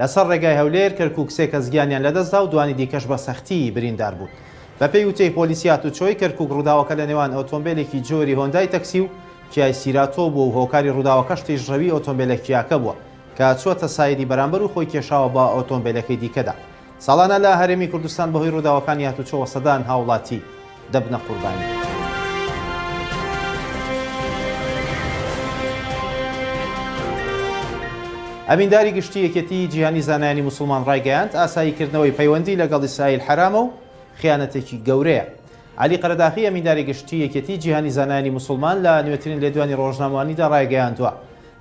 لەسەر ڕێگای هەولێر، کەرکووک سێ کەس گیانیان لەدەستدا و دوانی دیکەش بە سەختی بریندار بوون. بەپێی وتەی پۆلیسی هاتووچۆی کەرکووک، ڕووداوەکە لە نێوان ئۆتۆمبێلێکی جۆری هۆندای تەکسی و کیای سیراتۆ بووە و هۆکاری ڕووداوەکەش تیژڕەوی ئۆتۆمبێلە کیاکە بووە کە چووەتە سایدی بەرامبەر و خۆی کێشاوە بە ئۆتۆمبێلەکەی دیکەدا. ساڵانە لە هەرێمی کوردستان بەهۆی ڕووداوەکانی هاتووچۆوە سەدان هاوڵاتی. دەبنە قوربانی. ئەمینداری گشتی یەکێتیی جیهانی زانایانی موسڵمان ڕایگەیاند، ئاساییکردنەوەی پەیوەندی لەگەڵ ئیسرائیل حەرامە و خیانەتێکی گەورەیە. عەلی قەرەداخی ئەمینداری گشتی یەکێتیی جیهانی زانایانی موسڵمان لە نوێترین لێدوانی ڕۆژنامەوانیدا ڕایگەیاندووە،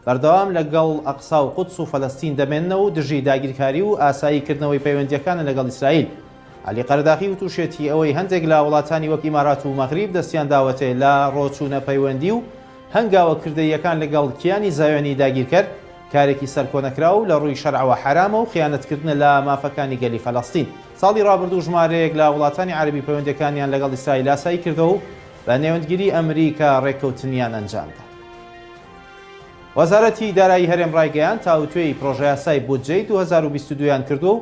بەردەوام لەگەڵ ئەقسا و قودس و فەلەستین دەمێننەوە و دژی داگیرکاری و ئاساییکردنەوەی پەیوەندییەکانە لەگەڵ ئیسرائیل. عەلی قەرداخی وتوشێتی ئەوەی هەندێک لە وڵاتانی وەک ئیمارات و مەغریب دەستیان داوەتێ لە ڕۆچوونە پەیوەندی و هەنگاوە کردەییەکان لەگەڵ کیانی زایۆنی داگیرکەر کارێکی سەرکۆنەکراو لە ڕووی شەرعەوە حەرامە و خیانەتکردنە لە مافەکانی گەلی فەلەستین. ساڵی ڕابردوو ژمارەیەک لە وڵاتانی عەرەبی پەیوەندیەکانیان لەگەڵ ئیسرائیل ئاسایی کردەوە و بە نێوەندگیری ئەمریکا ڕێککەوتنیان ئەنجامدا. وەزارەتی دارایی هەرێم ڕایگەیاند تاوتوێی پرۆژەیاسای بودجەی دوو هەزار و بیست و دوو یان کردووە و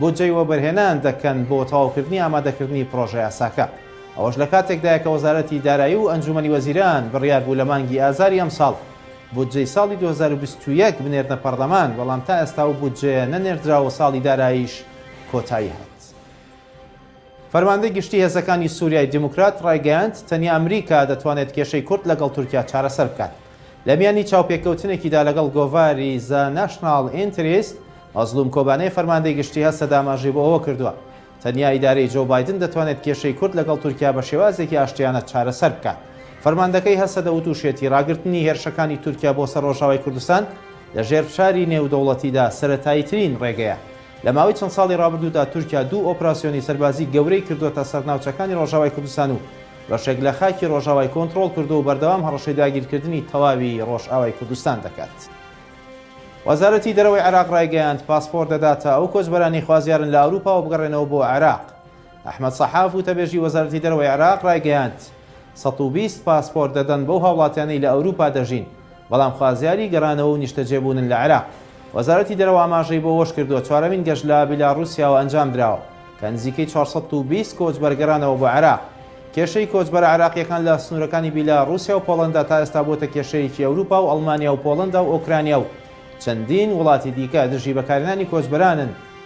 بودجەی وەبەرهێنان دەکەن بۆ تەواوکردنی ئامادەکردنی پڕۆژەیاساکە. ئەوەش لە کاتێکدایە کە وەزارەتی دارایی و ئەنجوومەنی وەزیران بڕیار بوو لە مانگی ئازاری ئەمساڵ بودجەی ساڵی دوو هەزار و بیست و یەک بنێرنە پەڕلەمان، بەڵام تا ئێستا ئەو بودجەیە نەنێردرا و ساڵی داراییش کۆتایی هات. فەرماندەی گشتی هێزەکانی سوریای دیموکرات ڕایگەیاند، تەنیا ئەمریکا دەتوانێت کێشەی کورد لەگەڵ تورکیا چارەسەر بکات. لە میانی چاوپێکەوتنێکیدا لەگەڵ گۆڤاری زە ناشناڵ ئینتریست، مەزڵوم کۆبانێ فەرماندەی گشتی هەستە داماژەی بۆ ئەوە کردووە، تەنیا ئیدارەی جۆو بایدن دەتوانێت کێشەی کورد لەگەڵ تورکیا بە شێوازێکی ئاشتیانە چارەسەر بکات. فەرماندەکەی هەسەدە وتوشیەتی، ڕاگرتنی هێرشەکانی تورکیا بۆ سەر ڕۆژاوای کوردستان لە ژێر فشاری نێودەوڵەتیدا سەرەتاییترین ڕێگەیە لە ماوەی چەند ساڵی ڕابردوودا تورکیا دوو ئۆپراسیۆنی سەربازی گەورەی کردووەتە سەر ناوچەکانی ڕۆژاوای کوردستان و بەشێک لە خاکی ڕۆژاوای کۆنترۆڵ کردووە و بەردەوام هەڕەشەی داگیرکردنی تەواوی ڕۆژئاوای کوردستان دەکات. وەزارەتی دەرەوەی عێراق ڕایگەیاند، پاسپۆرت دەداتە ئەو کۆچبەرانەی خوازیارن لە ئەوروپاوە بگەڕێنەوە بۆ عێراق. ئەحمەد سەحاف، وتەبێژی وەزارەتی دەرەوەی عێراق رایگەیاند، سەد و بیست پاسپۆرت دەدەن بەو هاوڵاتیانەی لە ئەوروپا دەژین، بەڵام خوازیاری گەڕانەوە و نیشتەجێبوونن لە عێراق. وەزارەتی دەرەوە ئاماژەی بۆ وەشکردووە، چوارەمین گەشت لە بیلاڕوسیاوە ئەنجامدراوە، کە نزیکەی چوار سەد و بیست کۆچبەر گەڕانەوە بۆ عێراق. کێشەی کۆچبەرە عێراقییەکان لە سنوورەکانی بیلاڕوسیا و پۆڵەندا تا ئێستا بووەتە کێشەیەکی ئەوروپا و ئەڵمانیا و پۆڵەندا و ئۆکرانیا و چەندین وڵاتی دیکە دژی بەکارهێنانی کۆچبەرانن